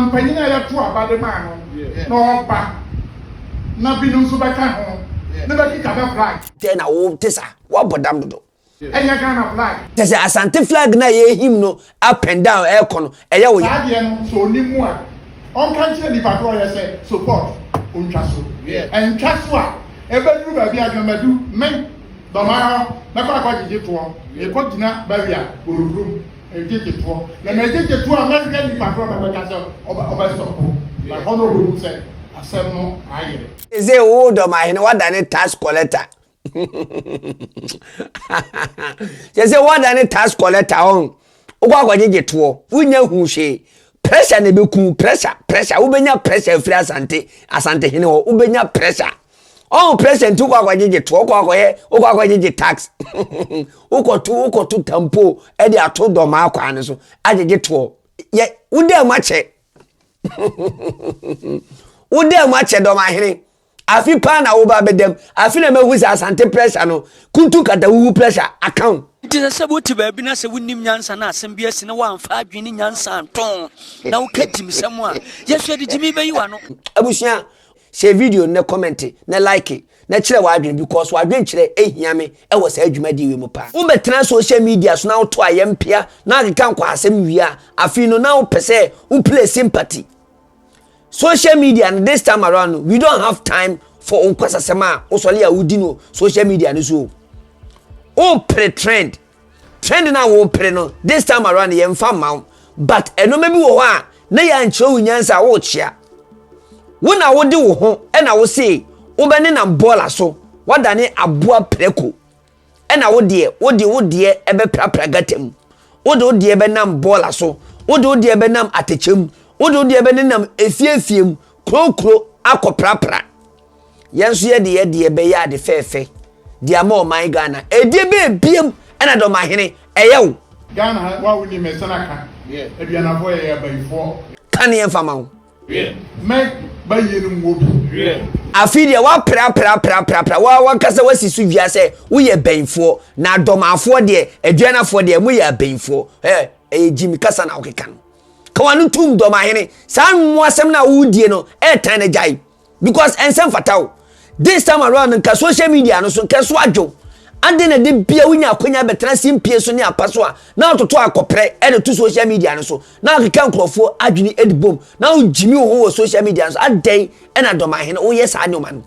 Mpanyin a yɛto aba de ma no na ɔba, na binom nso bɛka ho na bɛkeka bɛ flag. Dɛn na wo te sa? Woabɔ dam dodo. Ɛnyɛ Ghana flag. Kyɛ sɛ Asante flag no a yɛrehim no up and down ɛrekɔ no, ɛyɛ wo ya. Saa adeɛ no, sɛ ɔnim mu a, ɔnka nkyerɛ nipa korɔ yɛ sɛ support ɔntwa so. Ɛntwa so a, ɛbɛduru baabi a dwamadu, me, Dɔmahɔ, mɛkɔ akɔgyegye toɔ, mekɔgyina barrier, Borɔburom. Agyegyetoɔ na na agyegyetoɔ a mɛhwɛ nipa korɔ na mɛka sɛ ɔbɛ sɔpo na hɔ na ɔbɛhu sɛ asɛm no ayɛ. Ese wo dɔmahene wadane tax collector kyɛ sɛ wadane tax collector ɔn wokɔ akɔgyegye toɔ wonya hu hwee pressure na ɛbɛku pressure pressure wobɛnya pressure afiri asante asante hene hɔ wobɛnya pressure Ɔn president wokɔ akɔgyegye to wokɔ akɔyɛ wokɔ akɔgyegye tax wokɔto wokɔto tampo ɛde ato dɔmaa kwan no so agyegye toɔ yɛ wodaa mu akyɛ wodaa mu akyɛ dɔmahene afi paa na woba bɛdam afi na mahu sɛ asante pressure no kuntu kata wuwu pressure account nti sɛ sɛ wote baabi na sɛ wonim nyansa no asɛm bi asi na woamfa adwene ne nyansa nto na woka gyimsɛm a yɛhwɛ de gyimi bɛyi w'ano abusua Share video no na kɔmɛnte na like na kyerɛ w'adwene because w'adwenkyerɛ hia me wɔ saa dwumadie wei mu paa. Wo bɛtena social media so na wo to ayɛ mpea na akeka nkwahasɛm wie a, afei no na wo pɛ sɛ wo play sympathy. Social media no this time around no we don't have time for wo nkwasasɛm a wo sɔle a wo di no social media no so o. Wo pere trend. Trend no a worepere no, this time around yɛmfa mma wo. But nneɛma bi wɔ hɔ a na yɛankyerɛ wo nyansa a worekyea. Wo na wode wo ho na wose wobɛnenam bɔɔla so, woadane aboa prako. Ɛna wo deɛ, wode wo deɛ ɛbɛprapra gata mu. Wode wo deɛ bɛnam bɔɔla so. Wode wo deɛ bɛnam atɛkyɛ mu. Wode wo deɛ bɛnenam efie efie mu, kuro kuro akɔprapra. yɛn nso yɛde yɛ deɛ bɛyɛ ade fɛɛfɛ de ama ɔman ghana ɛdeɛ bɛɛ biam ɛna dɔmahene ɛyɛ wo ghana ha wa wo ni mɛsɛn aka aduanafoɔ yɛ yɛ abayifoɔ ka ne yɛmfa ma wo mɛ bayie no mu obi afei deɛ woapraprapraprapra wa wankasa wasi so dua sɛ woyɛ bɛnfoɔ na dɔmafoɔ deɛ aduanafoɔ deɛ moyɛ abɛnfoɔ ɛyɛ eh, gyimi kasa na wokeka no ka wano tom dɔmahene saa nwoasɛm no a wodie no ɛtan no gyae because ɛnsɛ mfata wo this time around nka social media no so nka so adwo ade na de bia wonya akonya bɛtena se mpie so ne apa so a na atoto akɔprɛ ɛde to social media no so na akeka nkurɔfoɔ adwene ɛde bom na wogyimi wo ho wɔ social media no so adɛn ɛna dɔmahene woyɛ saa nneɛma no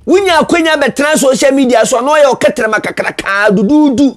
wonya akonya bɛtena social media so a na ɔyɛ ɔkɛtrɛma kakrakaa duduudu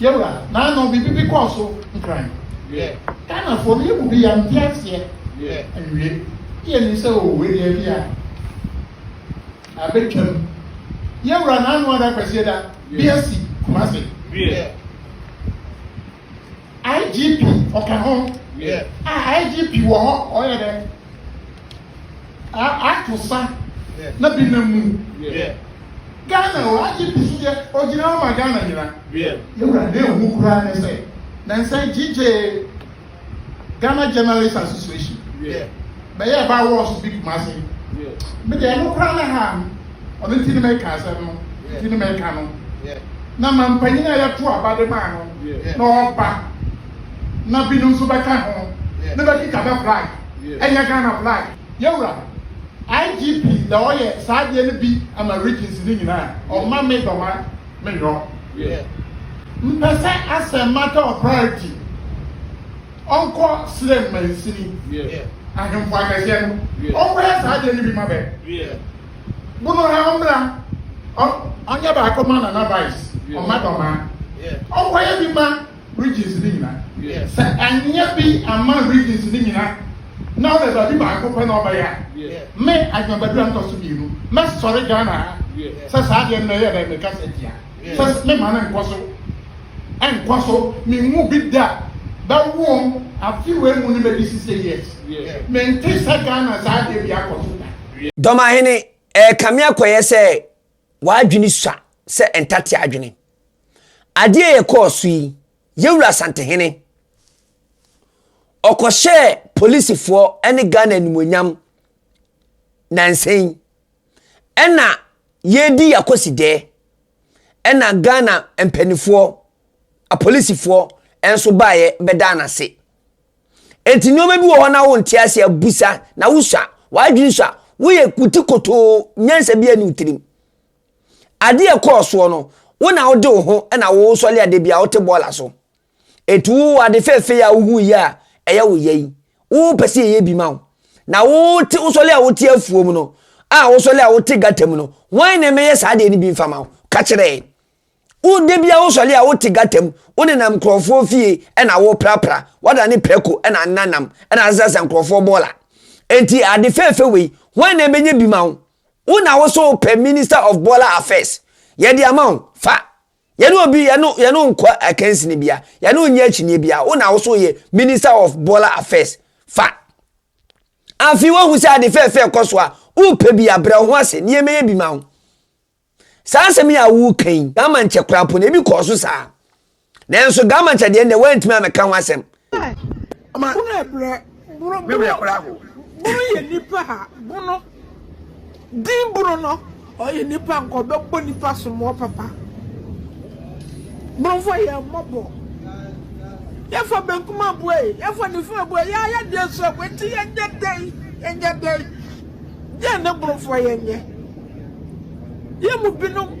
Yɛwura, naano biribi bi kɔɔ so nkran. Ghanafoɔ no, yɛn mu bi yɛante aseɛ anwie. Na yɛnim sɛ o wei deɛ bi a abɛtwam. Yɛwura, naano ada Kwasieda bi asi Kumasi. IGP ɔka ho. Yeah. Ah, IGP wɔ hɔ ɔyɛ dɛ. Ah, ato sa yeah. na bi na mu. Yeah. Ghana o IGP so yɛ ogyina hɔ ma Ghana nyina. Yeah. Yɛwura na ehu koraa ne sɛ na nsɛ gyigye Ghana Journalist Association. Yeah. Bɛyɛ ɛba wɔ so bi kuma se. Yeah. Mede ɛno koraa na ha. ɔno nti ne meka asɛm no nti ne meka no na ma mpanyin a yɛto aba de maa no na ɔba na binom nso bɛka ho ne bɛkeka bɛ flag ɛnyɛ Ghana flag. Yɛwura IGP na ɔyɛ saa adeɛ no bi ama regions no nyinaa ɔma me dɔma me nyɔ mpɛ sɛ asɛm matter of priority. ɔnkɔ srɛ mansini ahemfo akɛseɛ no, ɔnkɔyɛ saa adeɛ no bi ma bɛ. Bono ha ɔmmra, ɔnyɛ baako ma Nana Vice, ɔma Dɔmaa, ɔnkɔyɛ bi ma Regions no nyina. Sɛ anyɛ bi amma Regions no nyina na ɔbɛ baabi baako pɛ na ɔbɛyɛ a, me, Adwoa Badu a metɔ so mmienu, mɛsɔre Ghana ha sɛ saa adeɛ no mɛyɛ dɛn, mɛkasa atia. Jesus me ma no nkɔ so nkɔ so me nwu bi da bɛwom afe wei mu no bɛdi sise years mente sɛ Ghana saa adeɛ bi akɔ so da. Dɔmahene ɛrekame akɔyɛ sɛ w'adwene sua sɛ ntate adwene. Adeɛ yɛkɔɔ so yi, yɛwura Asantehene, ɔkɔhyɛɛ polisifoɔ ne Ghana animuonyam nansa yi. Ɛna yɛredi yɛakosi dɛ. Ɛna Ghana mpanimfoɔ, apolisifoɔ nso baeɛ bɛdaa no ase. Enti nneɛma bi wɔ hɔ na wonte aseɛ, busa na wosua, w'adwene sua, woyɛ wo ti kotoo, nyansa biara nni wo tirim. Adeɛ ɛkɔɔ soɔ no, wo na wode wo ho na wosɔre a da biara wote bɔɔla so. Enti wo ade fɛɛfɛ yi a wohu yi a ɛyɛ wo yɛ yi, wopɛ sɛ yɛyɛ bi ma wo. Na wote wosɔre a wote afuo mu no, a wosɔre a wote gata mu no, wɔn na ɛmɛyɛ saa deɛ no bi mfa ma wo. Ka kyerɛ yɛn. Wode bia wosɔre a wote gata mu, wonenam nkurɔfoɔ fie ɛna woprapra, wada ne prɛko ɛna nenanam, ɛna asasasa nkurɔfoɔ bɔɔla. Enti ade fɛɛfɛ wei, wɔn na ɛbɛnya bi ma wo. Wo na wo so wopɛ Minister of Bɔɔla Affairs. Yɛde ama wo, fa. Yɛne obi yɛne yɛne nkɔ akansini bia, yɛne nyɛ akyinie bia. Wo na wo so yɛ Minister of Baller Affairs. Fa. Afei wahu sɛ ade fɛɛfɛ kɔ so a, wopɛ bi abrɛ wo ho ase ne yɛmɛyɛ bi ma wo. Saa asɛm yi a woka yi, Gamankyɛ koraa po no ebi kɔɔ so saa. Nanso Gamankyɛ deɛ nnɛ wantumi amɛka ho asɛm. Bono yɛ brɛ. Bono me werɛ kora ho. Bono yɛ nipa ha. Bono din bono no ɔyɛ nipa nka ɔbɛbɔ nipa somoɔ papa. Bonofoɔ yɛ mmɔbɔ. Yɛfa benkum abue yi. Yɛfa nifa abue yi. Yɛayɛ deɛ so abue nti yɛnyɛ dɛn. Yɛnyɛ dɛn. Deɛ ne bonofoɔ yɛnyɛ. Yɛ mu binom.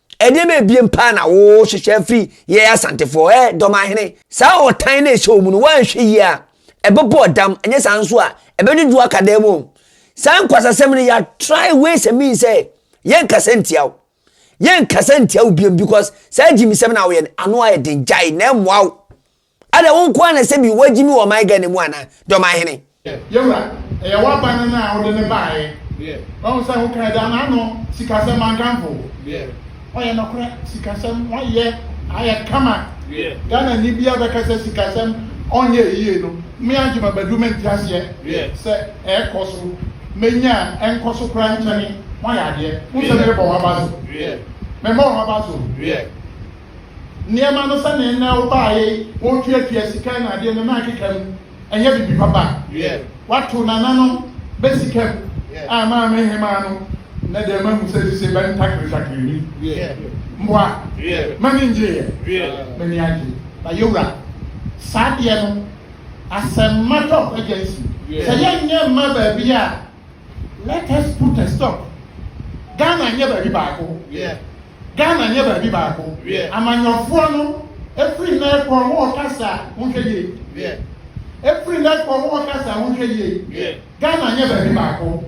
Nneɛma abien paa na wɔhwehwɛ afiri yɛn Asantefoɔ ɛ, Dɔmahene. Saa ɔtan no a ɛhyɛ wɔn mu no, wɔanhwɛ yie a, ɛbɛbɔ ɔdam, ɛnyɛ saa nso a, ɛbɛdwodwo aka dan mu. Saa nkwasasɛm no, yɛa try ways and means sɛ yɛnkasa ntia wo. Yɛnkasa ntia wo biom because saa gyimisɛm no a woyɛ no, ano ayɛ den, gyae, na ɛmmoa wo. Adɛn, wo nko ara na ɛsɛ bi, woagye me wɔ ɔman Ghana mu anaa? Deɛ ɔman hene. Yawura, ɛyɛ w'aba no na wode no baeɛ. Wahu sɛ ho kra gyaa n'ano, sikasɛm mankamfo. Ɔyɛ nokorɛ, sikasɛm wayɛ ayɛ kama. Ghanani biara bɛka sɛ sikasɛm ɔnyɛɛ yie no, me Adjuma Badu mente aseɛ sɛ ɛrekɔ so, manya a ɛnkɔ so koraa nkyɛne, moayɛ adeɛ. Wohu sɛ merebɔ w'aba so? Memmɔɔ w'aba so. nneɛma no sɛnea nnɛ wobaeɛ yi wɔretuatua sika na adeɛ no na akeka mu ɛnyɛ biribi papa wato nana no bɛ sika mu a maame hemaa no na deɛ ma mu sɛ sise bɛ ntakiritakiri ni mboa mani ngyeeɛ mani agye na yɛwura saa deɛ no asɛmma tɔ agyansi sɛ yɛnyɛ mma baabi a Let us put a stop. Ghana nyɛ baabi baako. Ghana nyɛ baabi baako. Amanyɔfoɔ no efiri nnɛ kɔ wɔn ɔkasa wɔn hwɛ yie. Efiri nnɛ kɔ wɔn ɔkasa wɔn hwɛ yie. Ghana nyɛ baabi baako.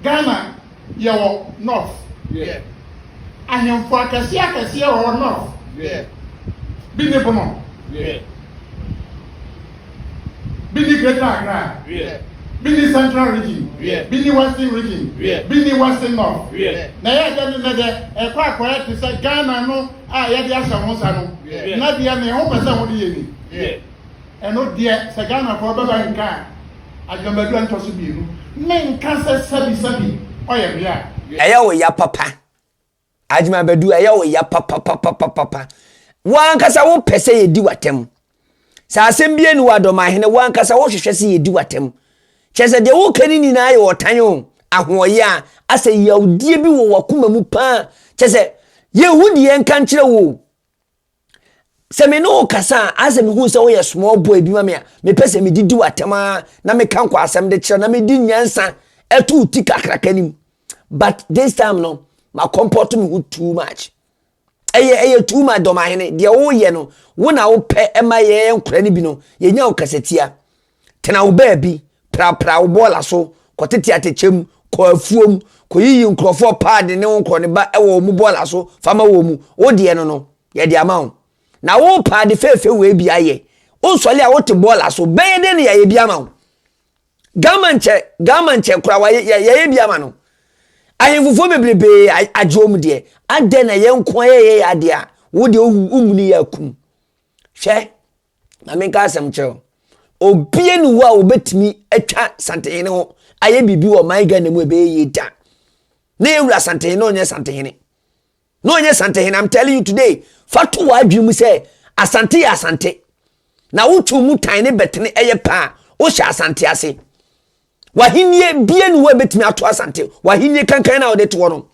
Ghana Yɛwɔ north. Yeah. Ahemfo akɛseɛ akɛseɛ wɔ hɔ north. Yeah. Bi ne Bono. Yeah. Bi ne Greater Accra. Yeah. Bi ne Central Region. Yeah. Bi ne Western Region. Yeah. Bi ne Western North. Yeah. Na ɛyɛ dɛ ne nnɛ dɛ ɛkɔ akɔyɛ te sɛ Ghana no a yɛde ahyɛ ho nsa no. Yeah. Na deɛ ne ho pɛ sɛ ho de yɛ ni. Yeah. Ɛno deɛ sɛ Ghanafoɔ bɛba nka a, Agyamadu a ntɔso mmienu, menka sɛ sɛbi sɛbi ɔyɛ me a. Ɛyɛ wo ya papa. Agyamadu ɛyɛ wo ya papapapapapa. Wo ankasa wo pɛ sɛ yɛdi w'atɛm. Sɛ asɛm bia ni wɔ Adɔmahene, wo ankasa wo hwehwɛ sɛ yɛdi w'atɛm. Kyerɛ sɛ deɛ wo ka ne nyinaa yɛ ɔtan o, ahoɔyea, asɛ yawdeɛ bi wɔ w'akoma mu paa. Kyerɛ sɛ yɛnhu deɛ yɛnka nkyerɛ wo o. sɛ me ne wo kasa a asɛ mehu sɛ woyɛ small boy bi ma me a mepɛ sɛ medidi w'atɛm a na meka nkɔ asɛm de kyerɛ na medi nyansa ɛto ti kakraka nim but this time no makɔmpɔto me ho too much ɛyɛ ɛyɛ too much dɔmahene deɛ woyɛ no wo na wopɛ ɛma yɛyɛ nkora no bi no yɛnya wo kasatia Tena wo baabi, prapra wo bɔɔla so, kɔtete atɛkyɛ mu, kɔ afuom, kɔyiyi nkurɔfoɔ paadi ne wo nkorɔne ba wɔ wɔn bɔɔla so fa ma wɔn. Wo deɛ no no, yɛde ama wo. Na wo paadi fɛɛfɛ wei bi ayɛ, wosɔle a wote bɔɔla so, bɛyɛ dɛn na yɛayɛ bi ama wo? Ghama nkyɛ, Ghama nkyɛ koraa wayɛ, yɛayɛ bi ama no. Ahemfofoɔ bebrebee agye wɔn deɛ, adɛn na yɛn nko ara yɛyɛ yɛn adeɛ a, wo deɛ womuni yɛ akum. Hwɛ, ma menka asɛm kyerɛ wo obie ne hɔ a wɔbɛtumi atwa santehene ho ayɛ biribi wɔ man ghana mu ɛbɛyɛ yie da na yɛwura santehene na ɔnyɛ santehene na ɔnyɛ santehene am telling you today fa to wɔ adwene mu sɛ asante yɛ asante na wotwe mu tan ne bɛtene ɛyɛ paa wohyɛ asante ase W'ahennie bie ne hɔ a ɛbɛtumi ato asante w'ahennie kankan no a wɔde to hɔ no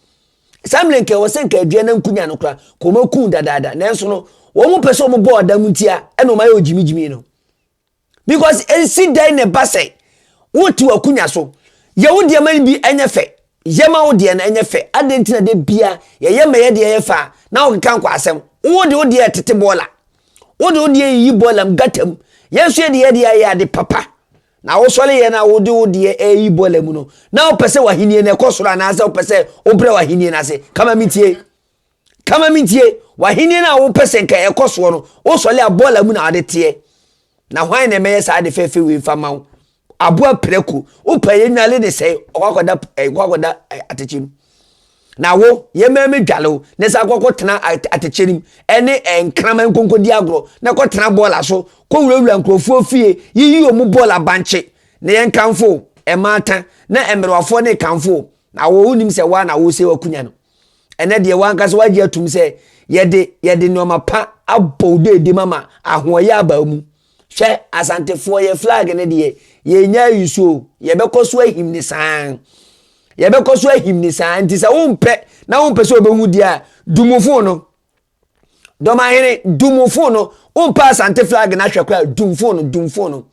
saa mmerɛ nka ɛwɔ sɛ nka adua no nkunya no kora ka wɔn aku dadaada nanso no wɔn pɛ sɛ wɔn bɔ ɔda mu ntia ɛna wɔn ayɛ ogyimigyimi no because nsi dan na ɛba sɛ wote w'akunya so yɛ wo deɛ ma no bi ɛnyɛ fɛ yɛ ma wo deɛ no ɛnyɛ fɛ adɛn nti na de bia yɛyɛ ma yɛ deɛ yɛ fɛ a na wokeka nkɔ asɛm wo de wo deɛ tete bɔɔla wo de wo deɛ yiyi bɔɔla mu gata mu yɛn nso yɛ deɛ yɛ deɛ yɛ ade papa Na wosɔre yɛ na wode wo deɛ reyi bɔla mu no, na wopɛ sɛ w'ahennie no ɛkɔ soro anaasɛ wopɛ sɛ wobrɛ w'ahennie no ase? Ka ma mentie. Ka ma mentie. W'ahennie no a wopɛ sɛ nka ɛkɔ soɔ no, wosɔre a bɔla mu na wode teɛ. Na hwan na ɛmɛyɛ saa ade fɛfɛ wei mfa ma wo? Aboa prɛko. Wopɛ yɛ nnwale ne sɛe, ɔkɔ akɔda, eh, ɔkɔ akɔda eh, atɛkyɛ mu. Na wo, yɛmma me dwale wo na san kɔkɔtena atɛkyɛ no mu ne nkraman nkɔnkɔdi agorɔ na kɔtena bɔɔla so kɔwurawura nkurɔfoɔ fie yiyi wɔn bɔɔla bankye na yɛnkamfo wo. Mmaatan na mmerewafoɔ na ɛkamfo wo. Na wo, wonim sɛ woa na wosɛe w'akunya no. Ɛnnɛ deɛ woankasa woagye atum sɛ yɛde yɛde nnoɔma pa abɔ wo deedem ama ahoɔyɛ aba wo mu. Hwɛ Asantefoɔ yɛ flag no deɛ yɛnnya ayusu o yɛbɛkɔ so ahim ne saa yɛbɛkɔ so ahim ne saa nti sɛ wompɛ na wompɛ sɛ ɔbɛhu deɛ a dumufo no dɔmahene dumufo no wompɛ asante flag no ahwɛ koraa dumfo no dumfo no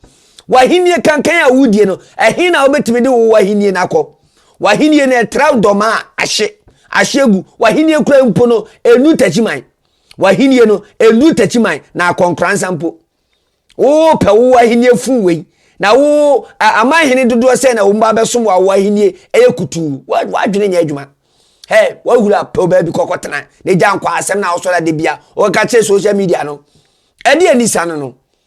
wahennie kankan a wodie no ɛhe na wobɛtumi de wo wahennie no akɔ wahennie no ɛtra dɔma a ahye ahye gu wahennie kura mpo no ɛnu takyiman W'ahenni no nnuru takyiman na akɔnkoransa mpo. Wopɛ wo ahenni fun wei na wo aman hene dodoɔ sɛ na wɔn ba bɛsom wɔ awɔ ahenni ɛyɛ kutuu wadwene nyɛ adwuma hɛ wahura pɛw baabi kɔkɔ tena na gya nkɔ asɛm na awosɔre adebia wɔka kyerɛ social media no ɛde anisa no no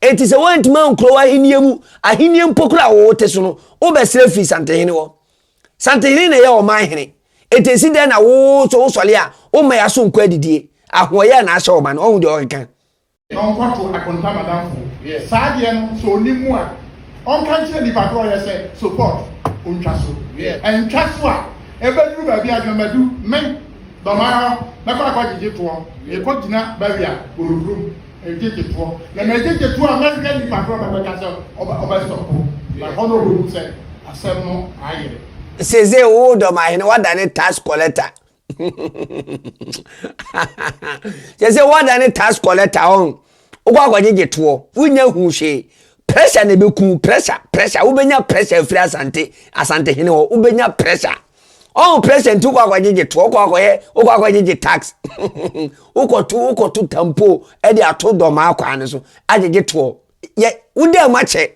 Enti sɛ woantumi ankura w'ahenni mu ahenni mpo kura a wote so no, wobɛsrɛ firi santehene hɔ. Santehene na ɛyɛ ɔman hene. Enti esi dɛn na wo nso wosɔre a womma yɛn aso nkɔ adidie? Ahoɔyɛ na ahyɛ ɔman no. Ɔhu deɛ ɔkeka. Na ɔnkɔto akonta madamfo. Saa adeɛ no sɛ ɔnim mu a, ɔnka nkyerɛ nipa korɔ yɛ sɛ support ɔntwa so. Ɛntwa so a, ɛbɛduru baabi a Adwamadu, me, Dɔmara hɔ, mɛkɔ akɔgyegye toɔ. Yɛkɔ gyina barrier, Boroburom, Egyegyetoɔ na na egyegyetoɔ a mɛhwɛ nipa korɔ bɛbɛka sɛ ɔbɛ ɔbɛ sɔpo na hɔ na ɔbɛhu sɛ asɛm no ayɛ. Sese wo dɔm ahene wadane tax collector sese wadane tax collector ɔn wokɔ akɔgyegye toɔ wonya hu hwee pressure na ɛbɛku pressure pressure wobɛnya pressure afiri asante asante hene hɔ wobɛnya pressure Ɔn president wokɔ akɔgyegye to wokɔ akɔyɛ wokɔ akɔgyegye tax wokɔto wokɔto tampo ɛde ato dɔmaa kwan no so agyegye toɔ yɛ wodaa mu akyɛ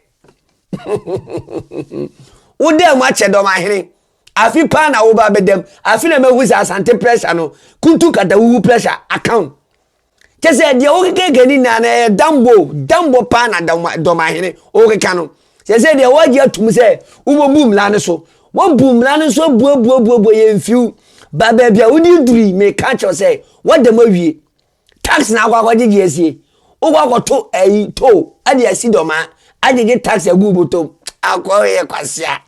wodaa mu akyɛ dɔmahene afi paa na woba bɛdam afi na mahu sɛ asante pressure no kuntu kata wuwu pressure account Kyɛ sɛ deɛ wokekeka ni nyinaa no ɛyɛ dambo dambo paa na dɔmahene wokeka no sɛ sɛ deɛ woagye atom sɛ wobɛbu mmara no so woabu mmara no so abuabuabuabua yɛ mfiw ba baabi a wode duri meka kyerɛw sɛ woada mu awie tax na akɔ akɔgyegye asie wokɔ akɔto ayi to ade asi dɔmaa agyegye tax agu botom akɔyɛ kwasea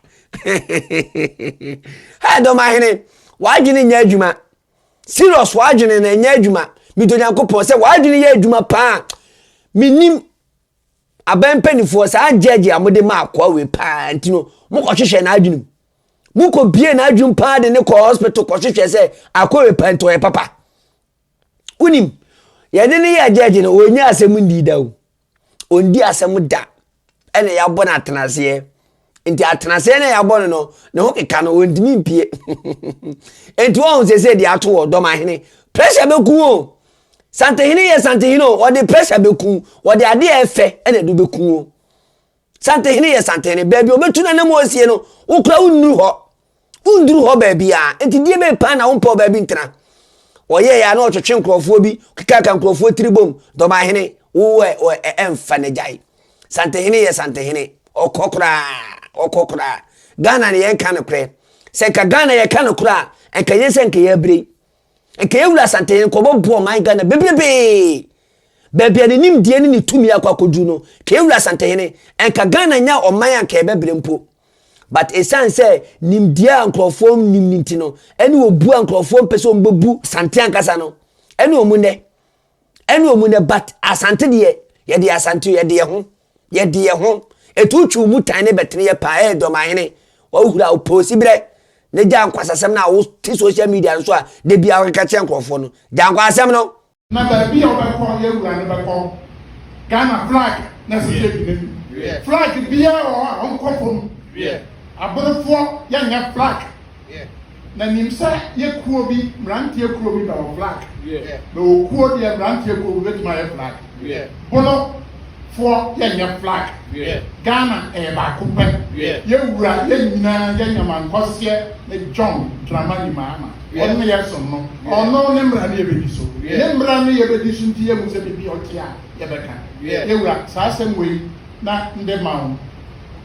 ha dɔmahene w'adwene nyɛ adwuma Serious w'adwene na ɛnyɛ adwuma mede Onyankopɔn sɛ w'adwene yɛ adwuma paa menim aban mpanimfoɔ saa gyɛgye a mode ma akoa wei paa nti no mokɔhwehwɛ n'adwene mu mokɔbie n'adwene paa de ne kɔ hospital kɔhwehwɛ sɛ akoa wei paa nti ɔyɛ papa wonim yɛne ne yɛ gyɛgye no ɔnya asɛm ndi da o ɔndi asɛm da ɛna yɛabɔ no atenaseɛ nti atenaseɛ no a yɛabɔ no no ne ho keka no ɔntumi mpie nti wɔhu sɛ sɛ deɛ ato wɔ dɔmahene pressure bɛku o santehene yɛ santehene o wɔde pressure bɛku wɔde adeɛ ɛfɛ ɛna ɛde bɛku o Santehene yɛ santehene. Baabi a ɔbɛtu n'anam mu asie no, wo koraa wonnuru hɔ. Wonduru hɔ baabiara. Enti deɛ bɛyɛ paa na wompɛ ɔbaa bi ntena. Ɔyɛeɛ a na ɔtwetwe nkurɔfoɔ bi, kekaaka nkurɔfoɔ tiri bom, dɔbahene, wo ɛ, ɛ, ɛ, ɛmfa no gyae. Santehene yɛ santehene. Ɔkɔ koraa, ɔkɔ koraa. Ghana no yɛnka nokorɛ. Sɛ nka Ghana yɛka nokorɛ a, nka nyɛ sɛ nka yɛabrei. Nka Ewura Asantehene Nkɔbɔ boɔ ɔman Ghana bebrebee. Baabi a ne nimdeɛ ne ne tumi akɔ akɔduru no, ka Ewura Asantehene, nka Ghana nya ɔman a nka yɛbɛbrɛ mpo. But ɛsiane sɛ nimdeɛ a nkurɔfoɔ nnim no nti no, ɛne obuo a nkurɔfoɔ mpɛ sɛ wɔbɛbu Asante ankasa no, ɛne wɔn nnɛ. Ɛne wɔn nnɛ but Asante deɛ, yɛde Asante o, yɛde yɛn ho. yɛ de yɛ ho, etu twiw mu tan ne bɛtene yɛ paa, ee Dɔmahene, w'ahohuru a wo pɛ osi berɛ, ne gyaa nkwasasɛm no a wo te social media no so a da biara wo keka kyerɛ nkorɔfoɔ no, gyaa nkwasasɛm no. Na baabi a wobɛkɔ no yɛ wura no bɛkɔ Ghana flag na ɛsɛ sɛ yɛgyina mu, flag biara wɔ hɔ a ɔnkɔ fam, aborofoɔ yɛnyɛ flag. Yeah. Na nim sɛ yɛ kuo bi mmeranteɛ kuo bi bɛwɔ flag. Yeah. Na okuo deɛ mmeranteɛ kuo bi bɛtumi ayɛ flag. Yeah. Bono foɔ yɛ nyɛ flag. Yeah. Ghana ɛyɛ baako pɛ. Yeah. Yɛ wura yɛ nyinaa yɛ nyama nkɔseɛ ne John Dramani Mahama. Yeah. Ɔno yɛ som no. Yeah. Ɔno ne mmara ne yɛ bɛdi so. Yeah. Ne mmara ne yɛ bɛdi so nti yɛ mu sɛ bibi ɔte a yɛ bɛka. Yeah. Yɛ wura saa asɛm wei na nde ma wo.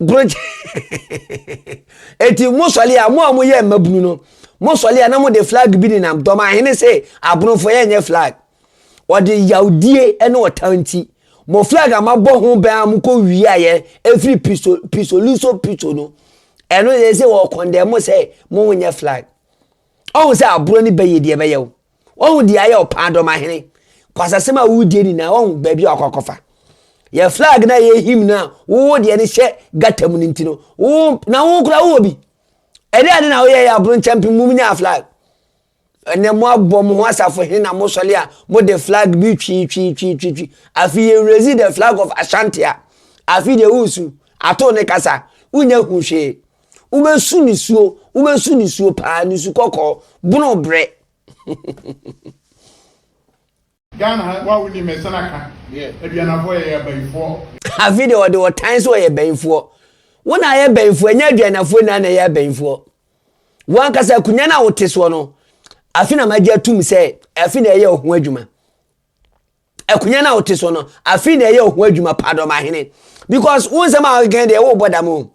Brogye. Eti mo sɔle a mo a mo yɛ mmabunu no, mo sɔle a na mo de flag bi nenam dɔm ahene se abronfo yɛ nyɛ flag. Wɔde yawdie ne ɔtaa nti. Mo flag a mabɔ ho bɛn a mo kɔ wie a yɛ efiri piso piso luso piso no. Ɛno yɛ se wɔ kɔndɛ mo sɛ mo nyɛ flag. Ɔhu sɛ aburo ne bɛyɛ deɛ bɛyɛ o. Wahu deɛ ayɛ ɔpaa dɔm ahene. Kwasasɛm a wodie nyinaa wahu baabi a ɔkɔkɔfa. Yɛ flag no a yɛ him no a wowo deɛ no hyɛ gata mu no nti no, wo na wo kora wowɔ bi. Ɛdɛ ade na woyɛ yɛ aboro nkyɛmpem mum nyaa flag. Ɛnɛ mo abɔ mo ho asafo hene na mo sɔle a mo de flag bi twii twii twii twii twii. Afi yɛ raise the flag of Ashanti a, afi deɛ wosu ato ne kasa, wonya hu hwee. Wobɛsu nisuo, wobɛsu nisuo paa, nisu kɔkɔɔ, bono berɛ. Ghana ha wa woni mɛ sɛn aka aduanafo yɛ yɛ bayifoɔ. Afi de ɔde ɔtan sɛ ɔyɛ bayifoɔ. Wo na ayɛ bayifoɔ ɛnyɛ aduanafo na na ɛyɛ abayifoɔ. Wɔn ankasa akunya na wote soɔ no afi na magye atum sɛ afi na ɛyɛ ɔho adwuma. akonya no a wote so no afei na ɛyɛ ɔho adwuma paa dɔmahene because wo nsɛm a wokɛn deɛ wobɔ dam o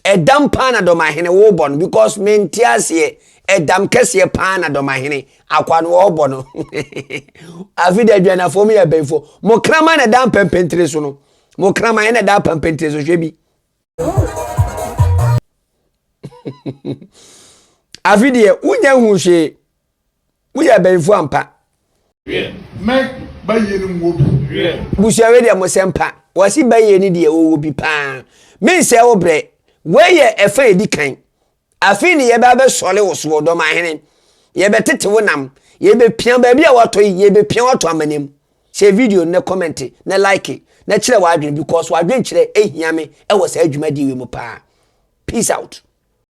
ɛdam paa na dɔmahene wobɔ no because mente aseɛ ɛdam kɛseɛ paa na dɔmahene akwa no wɔbɔ no afei deɛ adwanafoɔ mu yɛ bɛnfoɔ mo kraman na ɛda mpɛmpɛntire so no mo kraman na ɛda mpɛmpɛntire so hwɛ bi afei deɛ wonya hu hwee Moyɛ abanyinfoɔ ampa. Mɛ ba yie no mu wɔ bi. Busua wei deɛ mo sɛ mpa. Wɔsi ba yie no deɛ wɔwɔ bi paa. Me nsɛ wo brɛ. Wei yɛ ɛfa edi kan. Afei ne yɛbɛ abɛ sɔre wo soɔ dɔm ahene. Yɛbɛ tete wo nam. Yɛbɛ pia baabi a watɔ yi yɛbɛ pia watɔ amanem. Sɛ video no na kɔmɛnte na like na kyerɛ w'adwene because w'adwenkyerɛ ehia me ɛwɔ saa dwumadie wei mu paa. Peace out.